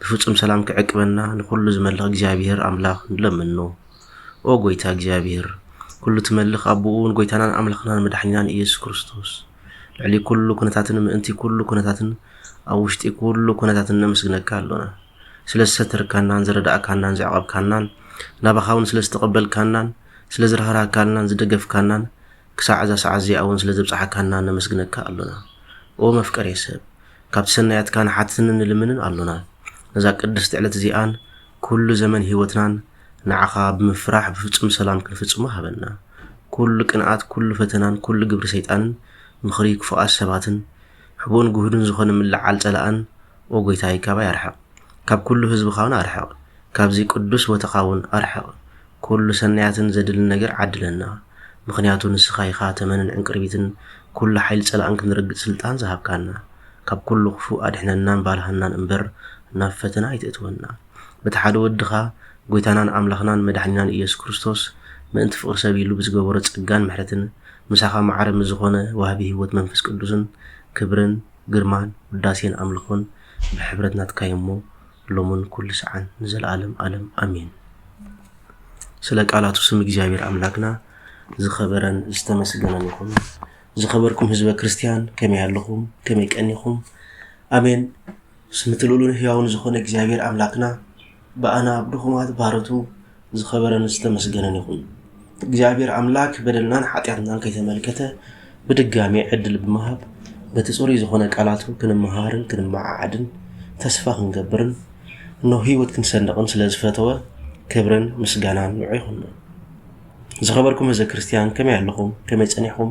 ብፍጹም ሰላም ክዕቅበና ንኹሉ ዝመልኽ እግዚኣብሔር ኣምላኽ ንለምኖ። ኦ ጎይታ እግዚኣብሔር ኩሉ ትመልኽ ኣቦኡ ንጎይታናን ኣምላኽናን መድሓኒናን ኢየሱስ ክርስቶስ ልዕሊ ኩሉ ኩነታትን ምእንቲ ኩሉ ኩነታትን ኣብ ውሽጢ ኩሉ ኩነታትን ነመስግነካ ኣሎና ስለ ዝሰተርካናን ዘረዳእካናን ዘዕቐብካናን ናባኻ እውን ስለ ዝተቐበልካናን ስለ ዝራህራካናን ዝደገፍካናን ክሳዕ እዛ ሰዓት እዚኣ እውን ስለ ዘብፅሓካና ነመስግነካ ኣሎና ኦ መፍቀሬ ሰብ ካብ ሰናያትካ ንሓትትን ንልምንን ኣሎና። ነዛ ቅድስቲ ዕለት እዚኣን ኩሉ ዘመን ሕይወትናን ንዓኻ ብምፍራሕ ብፍጹም ሰላም ክንፍጽሞ ሃበና። ኩሉ ቅንኣት፣ ኩሉ ፈተናን ኩሉ ግብሪ ሰይጣንን፣ ምኽሪ ክፉኣት ሰባትን፣ ሕቡእን ግሁድን ዝኾነ ምልዕዓል ጸላእን ኦ ጐይታይ ካባይ ኣርሕቕ። ካብ ኩሉ ሕዝብኻውን ኣርሕቕ። ካብዚ ቅዱስ ቦታኻውን ኣርሕቕ። ኩሉ ሰናያትን ዘድልን ነገር ዓድለና ምኽንያቱ ንስኻ ኢኻ ተመንን ዕንቅርቢትን ኩሉ ሓይሊ ጸላእን ክንረግጽ ስልጣን ዝሃብካና ካብ ኩሉ ክፉእ ኣድሕነናን ባርሃናን እምበር ናብ ፈተና ኣይተእትወና በቲ ሓደ ወድኻ ጎይታናን ኣምላኽናን መዳሕኒናን ኢየሱስ ክርስቶስ ምእንቲ ፍቅሪ ሰብ ኢሉ ብዝገበሮ ጸጋን ምሕረትን ምሳኻ ማዕረ ምስ ዝኾነ ዋህቢ ሕይወት መንፈስ ቅዱስን ክብርን ግርማን ውዳሴን ኣምልኾን ብሕብረት ናትካ'ዩ'ሞ ሎሙን ኩሉ ሰዓን ንዘለዓለም ኣለም ኣሜን። ስለ ቃላቱ ስም እግዚኣብሔር ኣምላክና ዝኸበረን ዝተመስገነን ይኹን። ዝኸበርኩም ህዝበ ክርስቲያን ከመይ ኣለኹም? ከመይ ቀኒኹም? ኣሜን። ስምቲ ልኡሉን ህያውን ዝኾነ እግዚኣብሔር ኣምላክና ብኣና ብድኹማት ባሮቱ ዝኸበረን ዝተመስገነን ይኹን። እግዚኣብሔር ኣምላክ በደልናን ሓጢኣትናን ከይተመልከተ ብድጋሜ ዕድል ብምሃብ በቲ ጽሩይ ዝኾነ ቃላቱ ክንመሃርን ክንመዓዓድን ተስፋ ክንገብርን እኖ ህይወት ክንሰንቕን ስለ ዝፈተወ ክብርን ምስጋናን ንዑ ይኹኖ። ዝኸበርኩም ህዝበ ክርስቲያን ከመይ ኣለኹም? ከመይ ጸኒሕኹም?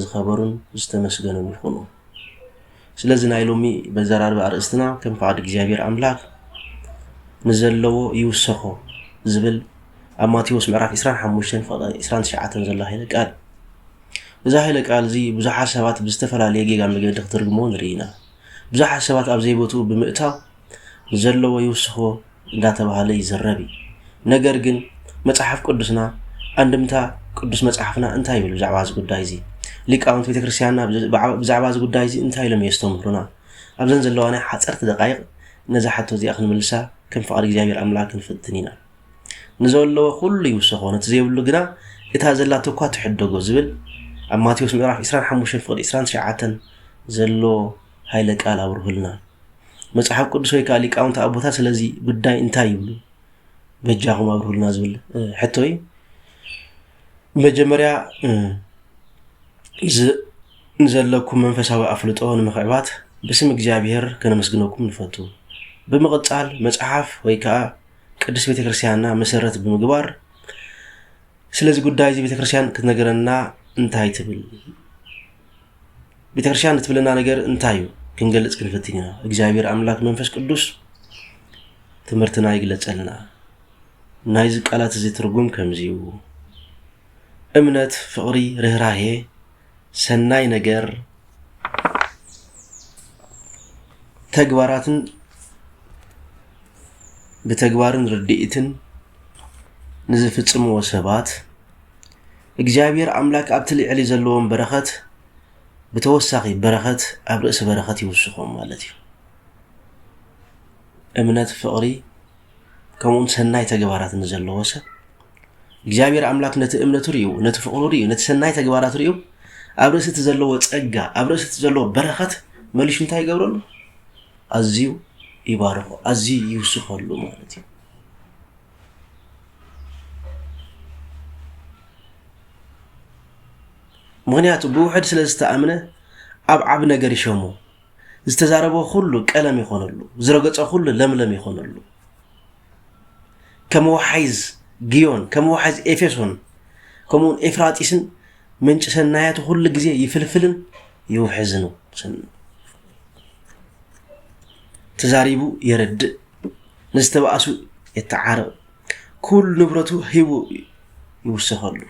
ዝኸበሩን ዝተመስገኑን ይኹኑ። ስለዚ ናይ ሎሚ በዘራርባ ኣርእስትና ከም ፍቓድ እግዚኣብሔር ኣምላክ ንዘለዎ ይውሰኾ ዝብል ኣብ ማቴዎስ ምዕራፍ 25 ፍቕዲ 29 ዘሎ ሃይለ ቃል እዛ ሃይለ ቃል እዚ ብዙሓት ሰባት ብዝተፈላለየ ጌጋ መገዲ ክትርግሞ ንርኢ ኢና። ብዙሓት ሰባት ኣብ ዘይቦትኡ ብምእታው ንዘለዎ ይውስኽዎ እንዳተባህለ ይዝረብ እዩ። ነገር ግን መጽሓፍ ቅዱስና ኣንድምታ ቅዱስ መጽሓፍና እንታይ ይብል ብዛዕባ እዚ ጉዳይ እዚ? ሊቃውንቲ ቤተ ክርስቲያንና ብዛዕባ እዚ ጉዳይ እዚ እንታይ ኢሎም የስተምህሩና? ኣብዘን ዘለዋ ናይ ሓፀርቲ ደቃይቕ ነዛ ሓቶ እዚኣ ክንምልሳ ከም ፍቓድ እግዚኣብሔር ኣምላክ ክንፍትን ኢና። ንዘለዎ ኩሉ ይውሰኾ ነቲ ዘይብሉ ግና እታ ዘላቶ እኳ ትሕደጎ ዝብል ኣብ ማቴዎስ ምዕራፍ 25 ፍቕዲ 29 ዘሎ ሃይለ ቃል ኣብርሁልና መጽሓፍ ቅዱስ ወይ ከኣ ሊቃውንቲ ኣቦታት ስለዚ ጉዳይ እንታይ ይብሉ በጃኹም ኣብርሁልና ዝብል ሕቶ እዩ መጀመርያ ንዘለኩም መንፈሳዊ ኣፍልጦ ንምክዕባት ብስም እግዚኣብሔር ከነመስግነኩም ንፈቱ ብምቕጻል መጽሓፍ ወይ ከዓ ቅዱስ ቤተ ክርስትያንና መሰረት ብምግባር ስለዚ ጉዳይ እዚ ቤተ ክርስትያን ክትነገረና እንታይ ትብል ቤተክርስትያን እትብለና ነገር እንታይ እዩ ክንገልፅ ክንፍትን ኢና እግዚኣብሔር ኣምላክ መንፈስ ቅዱስ ትምህርትና ይግለፀልና ናይዚ ቃላት እዚ ትርጉም ከምዚ እዩ እምነት ፍቅሪ ርኅራሄ ሰናይ ነገር ተግባራትን ብተግባርን ርድኢትን ንዝፍፅምዎ ሰባት እግዚኣብሔር ኣምላክ ኣብቲ ልዕሊ ዘለዎም በረኸት ብተወሳኺ በረኸት ኣብ ርእሲ በረኸት ይውስኾም ማለት እዩ። እምነት፣ ፍቕሪ ከምኡውን ሰናይ ተግባራት ንዘለዎ ሰብ እግዚኣብሔር ኣምላክ ነቲ እምነቱ ርዩ ነቲ ፍቅሩ ርዩ ነቲ ሰናይ ተግባራት ርዩ ኣብ ርእሲ እቲ ዘለዎ ጸጋ ኣብ ርእሲ እቲ ዘለዎ በረኸት መሊሹ እንታይ ይገብረሉ ኣዝዩ ይባርኾ ኣዝዩ ይውስኸሉ ማለት እዩ ምክንያቱ ብውሕድ ስለ ዝተኣምነ ኣብ ዓብ ነገር ይሸሙ ዝተዛረበ ኩሉ ቀለም ይኾነሉ ዝረገፀ ኩሉ ለምለም ይኾነሉ ከም ወሓይዝ ግዮን ከም ወሓይዝ ኤፌሶን ከምኡውን ኤፍራጢስን ምንጭ ሰናያት ኩሉ ግዜ ይፍልፍልን ይውሕዝን ተዛሪቡ የረድእ ንዝተባእሱ የተዓርቕ፣ ኩሉ ንብረቱ ሂቡ ይውሰኸሉ።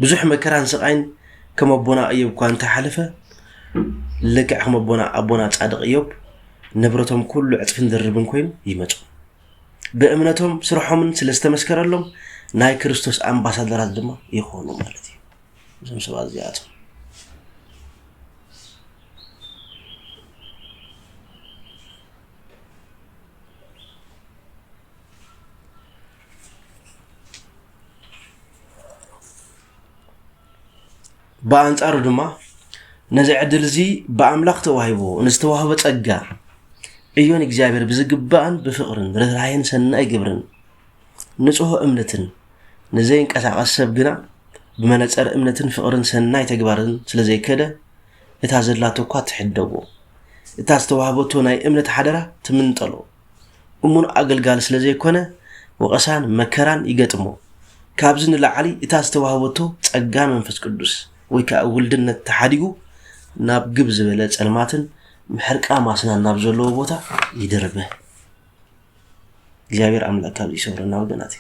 ብዙሕ መከራን ስቓይን ከም ኣቦና እዮብ እኳ እንተሓለፈ ልክዕ ከም ኣቦና ኣቦና ጻድቕ እዮብ ንብረቶም ኩሉ ዕጽፍን ድርብን ኮይኑ ይመጹ ብእምነቶም ስርሖምን ስለ ዝተመስከረሎም ናይ ክርስቶስ ኣምባሳደራት ድማ ይኾኑ ማለት እዩ እዞም ሰባት እዚኣቶም ብኣንጻሩ ድማ ነዚ ዕድል እዚ ብኣምላኽ ተዋሂቦ ንዝተዋህበ ጸጋ እዮ ንእግዚኣብሔር ብዝግባእን ብፍቕርን ርኅራኄን ሰናይ ግብርን ንጹህ እምነትን ንዘይንቀሳቐስ ሰብ ግና ብመነጸር እምነትን ፍቕርን ሰናይ ተግባርን ስለ ዘይከደ እታ ዘላቶ እኳ ትሕደጎ፣ እታ ዝተዋህበቶ ናይ እምነት ሓደራ ትምንጠሎ። እሙን ኣገልጋሊ ስለ ዘይኮነ ወቐሳን መከራን ይገጥሞ። ካብዚ ንላዕሊ እታ ዝተዋህበቶ ጸጋ መንፈስ ቅዱስ ወይ ከኣ ውልድነት ተሓዲጉ ናብ ግብ ዝበለ ጸልማትን ምሕርቃ ማስናን ናብ ዘለዎ ቦታ ይድርበ። እግዚኣብሔር ኣምላክ ካብ ይሰውረና ወገናት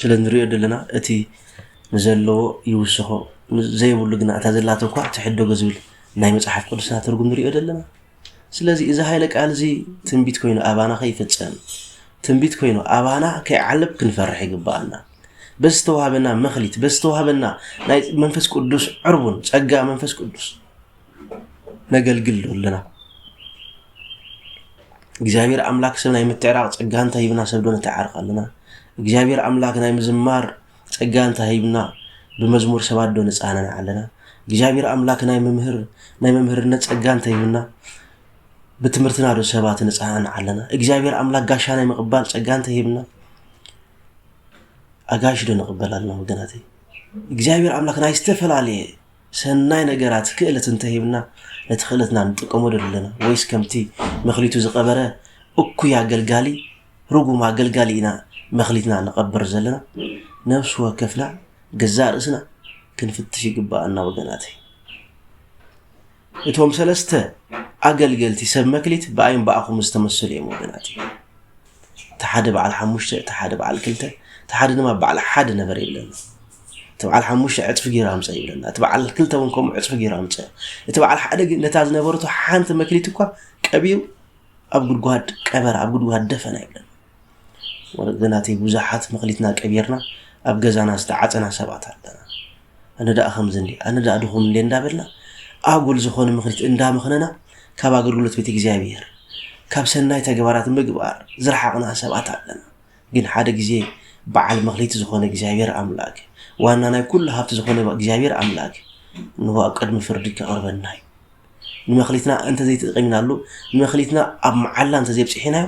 ስለ ንሪኦ ዘለና እቲ ንዘለዎ ይውስኾ ዘይብሉ ግና እታ ዘላቶ እኳ ትሕደጎ ዝብል ናይ መፅሓፍ ቅዱስና ትርጉም ንሪኦ ዘለና ስለዚ እዚ ሃይለ ቃል እዚ ትንቢት ኮይኑ ኣባና ከይፍፀም ትንቢት ኮይኑ ኣባና ከይዓለብ ክንፈርሕ ይግባኣና በዚ ዝተዋሃበና መክሊት በዚ ዝተዋሃበና ናይ መንፈስ ቅዱስ ዕርቡን ፀጋ መንፈስ ቅዱስ ነገልግል ዶ ኣለና? እግዚኣብሔር ኣምላክ ሰብ ናይ ምትዕራቕ ጸጋ እንተ ሂብና ሰብ ዶ ነተዓርቕ ኣለና? እግዚኣብሔር ኣምላክ ናይ ምዝማር ጸጋ እንተ ሂብና ብመዝሙር ሰባት ዶ ንጻነን ኣለና? እግዚኣብሔር ኣምላክ ናይ መምህር ናይ መምህርነት ጸጋ እንተ ሂብና ብትምህርትና ዶ ሰባት ንጻነን ኣለና? እግዚኣብሔር ኣምላክ ጋሻ ናይ ምቕባል ጸጋ እንተ ሂብና ኣጋሽ ዶ ንቕበል ኣለና ወገናተይ? እግዚኣብሔር ኣምላክ ናይ ዝተፈላለየ ሰናይ ነገራት ክእለት እንተ ሂብና ነቲ ክእለትና ንጥቀመሉ ዶ ኣለና ወይስ ከምቲ መክሊቱ ዝቀበረ እኩይ ኣገልጋሊ ርጉም ኣገልጋሊ ኢና መክሊትና ንቀብር ዘለና ነብሲ ወከፍና ገዛእ ርእስና ክንፍትሽ ይግባኣና ወገናተይ እቶም ሰለስተ ኣገልገልቲ ሰብ መክሊት ብኣይን ብኣኹም ዝተመሰሉ እዮም ወገናት እቲ ሓደ በዓል ሓሙሽተ እቲ ሓደ በዓል ክልተ እቲ ሓደ ድማ በዓል ሓደ ነበር የለን እቲ በዓል ሓሙሽተ ዕፅፊ ገይሩ ኣምፀ ይብለና እቲ በዓል ክልተ እውን ከምኡ ዕፅፊ ገይሩ ኣምፀ እቲ በዓል ሓደ ግን ነታ ዝነበረቶ ሓንቲ መክሊት እኳ ቀቢሩ ኣብ ጉድጓድ ቀበረ ኣብ ጉድጓድ ደፈና ይብለና ወለደናተይ ብዙሓት መክሊትና ቀቢርና ኣብ ገዛና ዝተዓፀና ሰባት ኣለና ኣነ ደኣ ከምዚ እንዲ ኣነ ደኣ ድኹም እንዲ እንዳበልና ኣጉል ዝኾነ ምክሊት እንዳመኽነና ካብ ኣገልግሎት ቤት እግዚኣብሔር ካብ ሰናይ ተግባራት ምግባር ዝረሓቕና ሰባት ኣለና ግን ሓደ ግዜ በዓል መክሊት ዝኾነ እግዚኣብሔር ኣምላክ ዋና ናይ ኩሉ ሃብቲ ዝኾነ እግዚኣብሔር ኣምላክ እንሆ ኣብ ቅድሚ ፍርዲ ከቕርበና እዩ ንመክሊትና እንተዘይተጠቂምናሉ ንመክሊትና ኣብ መዓላ እንተዘይብፅሒናዮ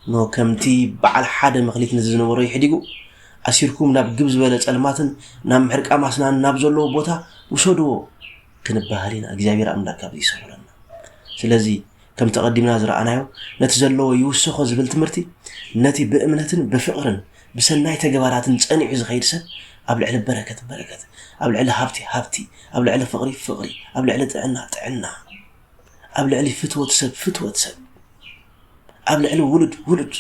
እንሆ ከምቲ በዓል ሓደ መክሊት ነዚ ዝነበሮ ይሕዲጉ ኣሲርኩም ናብ ግብ ዝበለ ፀልማትን ናብ ምሕርቃ ማስናን ናብ ዘለዎ ቦታ ውሰድዎ ክንበሃል ኢና እግዚኣብሔር ኣምላክ ካብ ይሰውረና ስለዚ ከምቲ ኣቐዲምና ዝረኣናዮ ነቲ ዘለዎ ይውሰኾ ዝብል ትምህርቲ ነቲ ብእምነትን ብፍቕርን ብሰናይ ተግባራትን ጸኒዑ ዝኸይድ ሰብ ኣብ ልዕሊ በረከት በረከት ኣብ ልዕሊ ሃብቲ ሃብቲ ኣብ ልዕሊ ፍቕሪ ፍቕሪ ኣብ ልዕሊ ጥዕና ጥዕና ኣብ ልዕሊ ፍትወት ሰብ ፍትወት ሰብ ኣብ ልዕሊ ውሉድ ውሉድ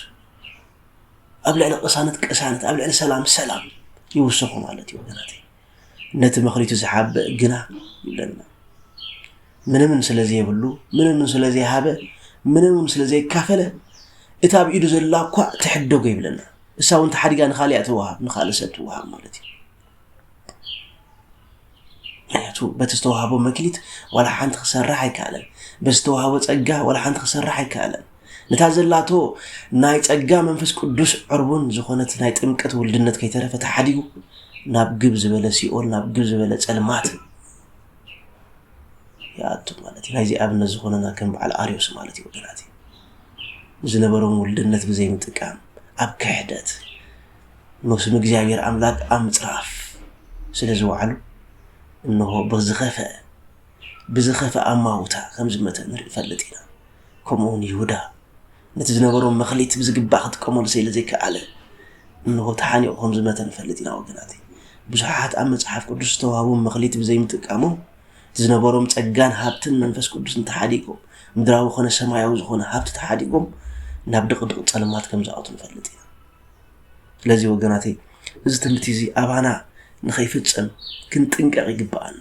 ኣብ ልዕሊ ቅሳነት ቅሳነት ኣብ ልዕሊ ሰላም ሰላም ይውሰኹ ማለት እዩ ወገናተይ ነቲ መክሊቱ ዝሓብእ ግና ይብለና ምንምን ስለ ዘይብሉ ምንምን ስለ ዘይሃበ ምንምን ስለ ዘይካፈለ እታ ኣብ ኢዱ ዘላ እኳ ትሕደጎ ይብለና እሳ እውን ተሓዲጋ ንካሊኣ ትወሃብ ንካልእ ሰብ ትወሃብ ማለት እዩ ምክንያቱ በቲ ዝተዋሃቦ መክሊት ዋላ ሓንቲ ክሰርሕ ኣይከኣለን በቲ ዝተዋሃቦ ፀጋ ዋላ ሓንቲ ክሰርሕ ኣይከኣለን ነታ ዘላቶ ናይ ጸጋ መንፈስ ቅዱስ ዕርቡን ዝኾነት ናይ ጥምቀት ውልድነት ከይተረፈ ተሓዲጉ ናብ ግብ ዝበለ ሲኦል ናብ ግብ ዝበለ ጸልማት ይኣቱ ማለት እዩ ናይዚ ኣብነት ዝኾነና ከም በዓል ኣርዮስ ማለት እዩ ወገናት ዝነበሮም ውልድነት ብዘይ ምጥቃም ኣብ ክሕደት ነስም እግዚኣብሔር ኣምላክ ኣብ ምፅራፍ ስለ ዝወዓሉ እንሆ ብዝኸፈ ብዝኸፍእ ኣማውታ ከም ዝመተ ንፈልጥ ኢና። ከምኡውን ይሁዳ ነቲ ዝነበሮ መክሊት ብዝግባእ ክጥቀመሉ ስለ ዘይከኣለ እንሆ ተሓኒቑ ከም ዝመተ ንፈልጥ ኢና። ወገናት ብዙሓት ኣብ መጽሓፍ ቅዱስ ዝተዋህቦም መክሊት ብዘይምጥቃሞም እቲ ዝነበሮም ጸጋን ሃብትን መንፈስ ቅዱስን ተሓዲጎም ምድራዊ ኮነ ሰማያዊ ዝኾነ ሃብቲ ተሓዲጎም ናብ ድቕድቕ ጸልማት ከም ዝኣቱ ንፈልጥ ኢና ስለዚ ወገናተይ እዚ ትምህርቲ እዚ ኣባና ንኸይፍጸም ክንጥንቀቕ ይግብኣና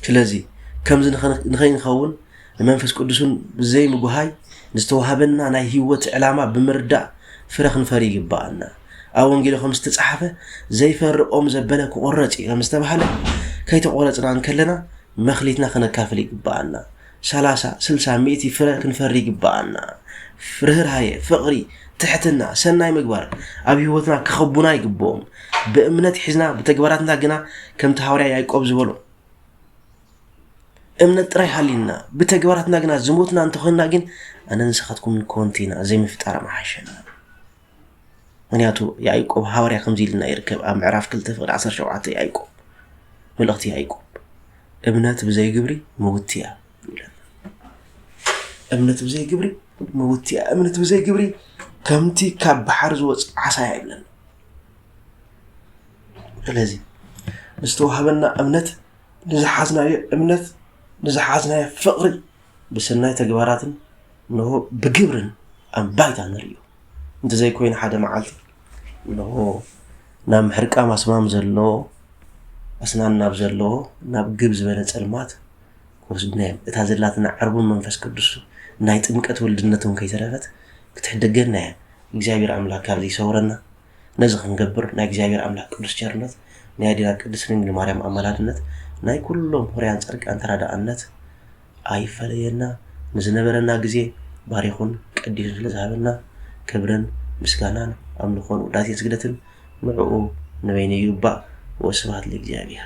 ስለዚ ከምዚ ንኸይንኸውን ንመንፈስ ቅዱስን ብዘይ ምጉሃይ ንዝተዋህበና ናይ ህይወት ዕላማ ብምርዳእ ፍረ ክንፈሪ ይግባኣና ኣብ ወንጌል ከም ዝተፃሓፈ ዘይፈርቆም ዘበለ ክቆረፅ እዩ ከም ዝተባሃለ ከይተቆረፅና እንከለና መክሊትና ከነካፍል ይግባኣና ሰላሳ፣ ስልሳ፣ ሚእቲ ፍረ ክንፈሪ ይግበኣና። ርህራሄ፣ ፍቕሪ፣ ትሕትና፣ ሰናይ ምግባር ኣብ ህይወትና ክኸቡና ይግብኦም። ብእምነት ሒዝና ብተግባራትና ግና ከምቲ ሃዋርያ ያዕቆብ ዝበሎ እምነት ጥራይ ሃሊና ብተግባራትና ግና ዝሞትና እንተኾይንና ግን ኣነ ንስኻትኩም ኮንቲ ኢና ዘይምፍጣር ምሓሸና። ምክንያቱ ያዕቆብ ሃዋርያ ከምዚ ኢልና ይርከብ ኣብ ምዕራፍ 2 ፍቅዲ 17 ያዕቆብ መልእኽቲ ያዕቆብ እምነት ብዘይ ግብሪ ምውቲ እያ ይብለና እምነት ብዘይ ግብሪ ምውቲ እያ እምነት ብዘይ ግብሪ ከምቲ ካብ ባሕር ዝወፅ ዓሳ እያ ይብለና ስለዚ ዝተዋህበና እምነት ንዝሓዝናዮ እምነት ንዝሓዝናዮ ፍቅሪ ብሰናይ ተግባራትን ንሆ ብግብርን ኣብ ባይታ ንርእዮ እንተዘይኮይኑ ሓደ መዓልቲ እንሆ ናብ ምሕርቃም ኣስማም ዘሎ ኣስናን ናብ ዘለዎ ናብ ግብ ዝበለ ጸልማት ክወስዱና እዮም። እታ ዘላትና ዕርቡን መንፈስ ቅዱስ ናይ ጥምቀት ወልድነት እውን ከይተረፈት ክትሕደገና እያ። እግዚኣብሔር ኣምላክ ካብዚ ይሰውረና። ነዚ ክንገብር ናይ እግዚኣብሔር ኣምላክ ቅዱስ ቸርነት፣ ናይ ኣዴና ቅድስት ድንግል ማርያም ኣማላድነት፣ ናይ ኩሎም ሆርያን ጸድቃን ተራዳኣነት ኣይፈለየና ንዝነበረና ግዜ ባሪኹን ቀዲሱን ስለ ዝሃበና ክብርን ምስጋናን ኣምልኾን ውዳሴን ስግደትን ንዑኡ ንበይኑ ይግባእ ወስብሃት ለእግዚኣብሔር።